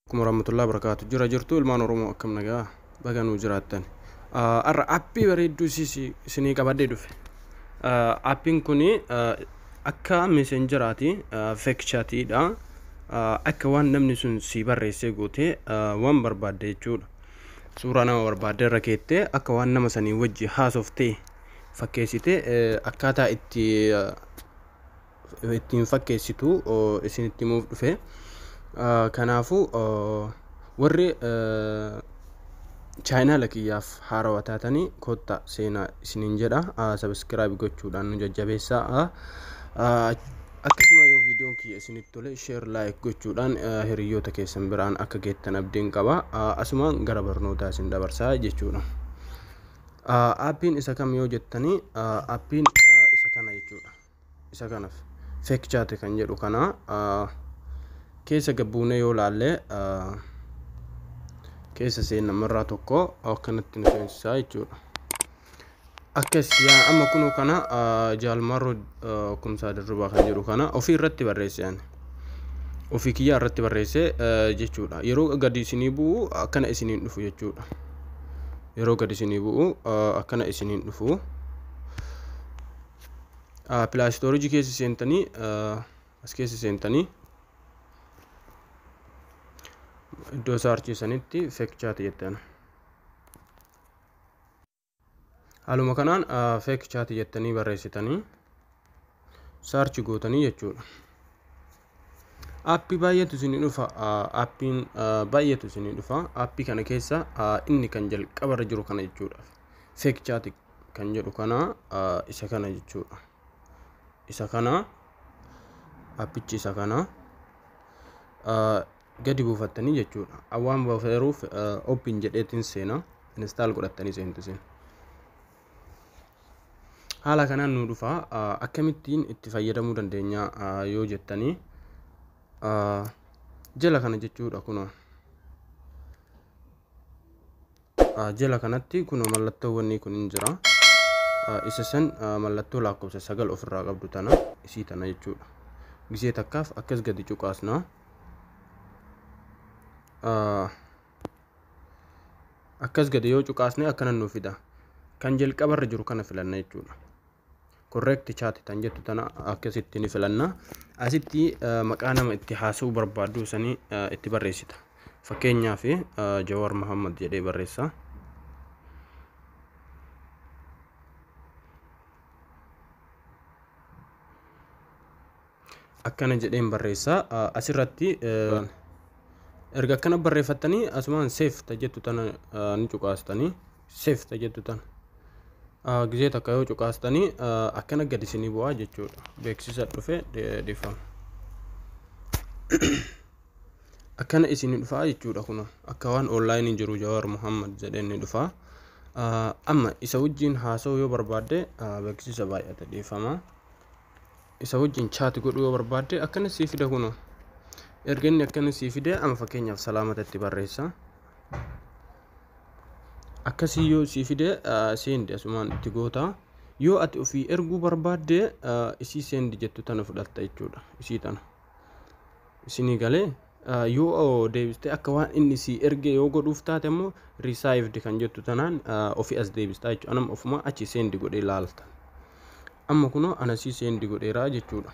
Akkuma warahmatullahi barakaatu jira jirtu ilmaan Oromoo akkam nagaa baga nuu jiraattan. Har'a appii bareedduu isinii qabadhee dhufe. Appiin kun akka meseenjeraati feekchaatiidha. Akka waan namni sun sii barreessee gootee waan barbaadde jechuudha. suuraa nama barbaadde irra keettee akka waan nama sanii wajji haasoftee fakkeessite akkaataa itti ittiin fakkeessitu isinitti himuuf dhufe. Kanaafuu warri chaayinaala kiyyaaf haarawa taatanii kotta seenaa isiniin jedha sabiskiraayib gochuudhaan nu jajjabeessaa. Akkasuma yoo viidiyoon kiyya isinitti tole share like gochuudhaan eh, hiriyoota keessan biraan akka geettan abdiin qaba. Ah, Asumaan gara barnootaa isin dabarsaa jechuudha. Ah, Appiin isa kam yoo jettanii ah, appiin ah, isa kana jechuudha. Isa kanaaf fake chat kan jedhu kana ah, keessa gabbuunee yoo laalle ah, keessa seenna marraa tokko akkanatti nu seensisaa jechuudha. Akkas yaa amma kunoo kana ah, jaalmarroo ah, kumsaa dirribaa kan jedhu kana ofii irratti barreesse ani. Ofii kiyyaa irratti barreesse eh, jechuudha. Yeroo gadi isinii bu'u akkana isiniin dhufu jechuudha. Yeroo gadi isinii bu'u ah, akkana isiniin dhufu. Ah, Pilaastoorijii keessa seentanii ah, as keessa seentanii iddoo isaa harciisanitti fekchaati jettan. Haaluma kanaan fake chat jettanii barreessitanii search gootanii jechuudha. Appii baay'eetu isinii dhufa. Appiin baay'eetu isinii dhufa. Appii kana keessa inni kan jalqaba irra jiru kana jechuudha. Fake chat kan jedhu kana isa kana jechuudha. Isa kana appichi isa kana. gadi buufattanii jechuudha awwaan bafeeruuf oopin jedheetiin seena instaal godhattanii seentu isin haala kanaan nu dhufa akkamittiin itti fayyadamuu dandeenya yoo jettanii jala kana jechuudha kunoo Jala kanatti kunoo mallattoo wannii kun hin jira. Isa san mallattoo lakkoofsa sagal ofirraa qabdu tana isii tana jechuudha. Gisee takkaaf akkas gadi cuqaasna. Akkas gadi yoo cuqaasne akkana nu fida. Kan jalqabarra jiru kana filanna jechuudha. correct chat tan jettu tana akkasitti ni filanna asitti maqaa nama itti haasa'uu barbaaddu sanii itti barreessita fakkeenyaaf Jawaar Muhammad jedhee barreessa akkana jedheen barreessa asirratti erga akkana barreeffattanii asumaan seef ta jettu tana ni cuqaastanii seef ta jettu tana gizee takka yoo cuqaastanii akkana gad isinii bu'aa jechuudha beeksisa dhufe dhiifama. akkana isin dhufaa jechuudha kun akka waan onlaayinii jiru jawaar muhammad jedheen ni dhufaa amma isa wajjiin haasa'uu yoo barbaadde beeksisa baay'ata dhiifama. isa wajjin chaati godhuu yoo barbaadde akkana sii fida kuno erga inni akkana sii fide ama fakkeenyaaf salaamatatti barreessa akkasii yoo sii fide seendi asumaan itti goota yoo ati ofii erguu barbaadde isii seendi jettu tana fudhatta jechuudha isii tana isinii galee yoo deebiste akka waan inni sii erge yoo godhuuf taate immoo risaayivdi kan jettu tanaan ofii as deebistaa jechuudha anam ofuma achi seendi godhee laalta amma kunoo anasii seendi godheera jechuudha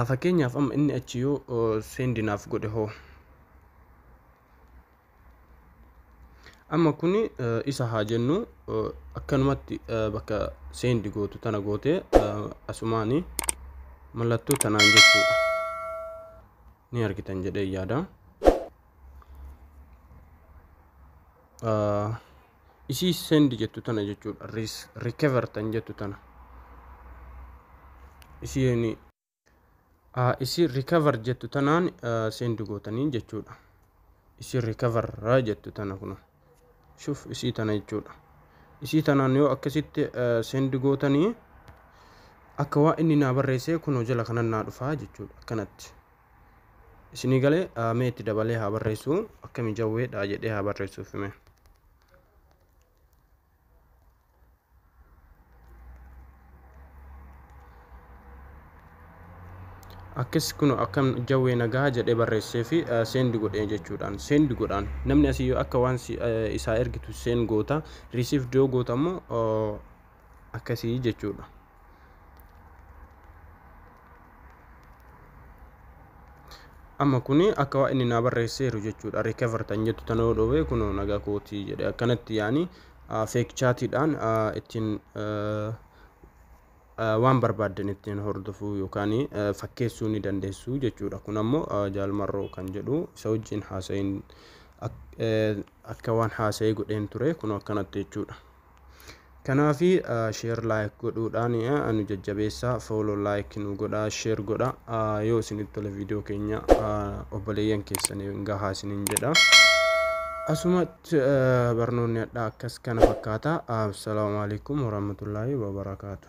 fakkeenyaaf amma inni achi yoo seendi naaf godhe hoo amma kun isa haa jennu akkanumatti bakka seendi gootu tana gootee asumaani mallattoo tanaan jechuudha ni argitan jedhee yaada. isii send jettu tana jechuudha recover tan jettu tana isiin isii recover jettu tanaan send gootanii jechuudha isii recover jettu tana kun shuf isii tana jechuudha isii tanaan yoo akkasitti send gootanii akka waa inni naa barreessee kunoo jala kanan naa dhufaa jechuudha akkanatti Isinii galee mee itti dabalee haa barreessu akkami jawweedha jedhee haa barreessuuf hime. Akkis kun akkam jawwee nagaa jedhee barreessee fi seendi godhee jechuudhaan seendi godhaan namni asii yoo akka waan isaa ergitu seen goota risiif doo goota immoo akkasii jechuudha. amma kuni akka waa inni naa barreesseeru jechuudha recover tan jettu tana yoo dhoowwe kun nagaa kooti jedhe akkanatti yaani fake chaatiidhaan ittiin waan barbaaddan ittiin hordofuu yookaan fakkeessuu ni dandeessu jechuudha kun ammoo jaalmarroo kan jedhu isa wajjin haasa'iin akka waan haasa'ee godheen ture kun akkanatti jechuudha. Kanaafi sheer laayik godhuudhaan nu jajjabeessaa fooloo laayik nu godhaa sheer godha yoo isinitti tole viidiyoo keenya obboleeyyan keessaniin gahaa isiniin jedha. Asumatti barnoonni hadhaa akkas kana fakkaata. Assalaamu alaikum warahmatullaahi wabarakaatu.